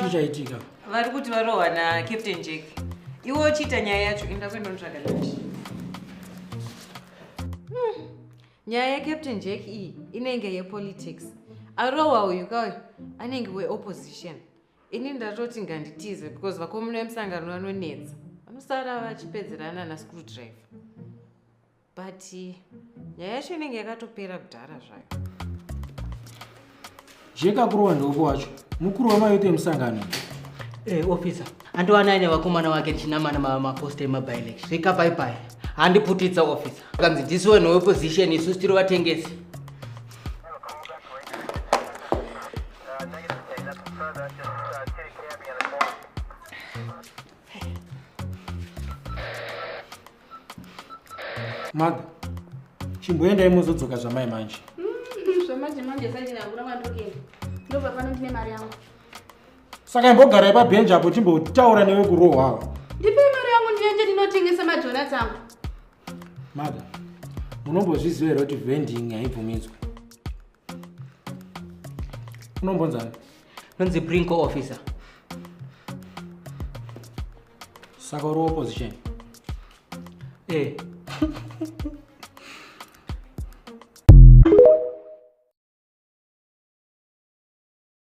chii chaitika vari kuti varohwa nacaptain jack iwe uchiita nyaya yacho inda kuenda unotsvaga lunch hmm. nyaya yacaptain jack iyi inenge yepolitics arohwa uyu kauyo anenge weopposition ini ndatoti nganditize because vakomuna vemusangano vanonetsa vanosara vachipedzerana nascrew driver but nyaya yacho inenge yakatopera kudhara zvayo zvekakurowa ndeupo wacho mukuru wamayote musangano hey, eh, ofisa andiwana aine vakomana vake ndichinamana mamaposta emabilection zvekapaipai handiputitsa ofisa akanzi ndisu vanhu weopposition isu tiri vatengesi Maga, chimboendai mozodzoka zvamai manje. Mm, zvamanje manje zvaiti nakura kwandokenda. Ndobva pano ndine mari yangu. Saka imbogarai pabhenji apo timbotaura newe kurohwa awa. Ndipei mari yangu ndiende ndinotengesa madonats angu. Maga, munombozviziva here kuti vending haibvumidzwe? Unombonzani? Nonzi Brinko officer. saka uri opposition eh.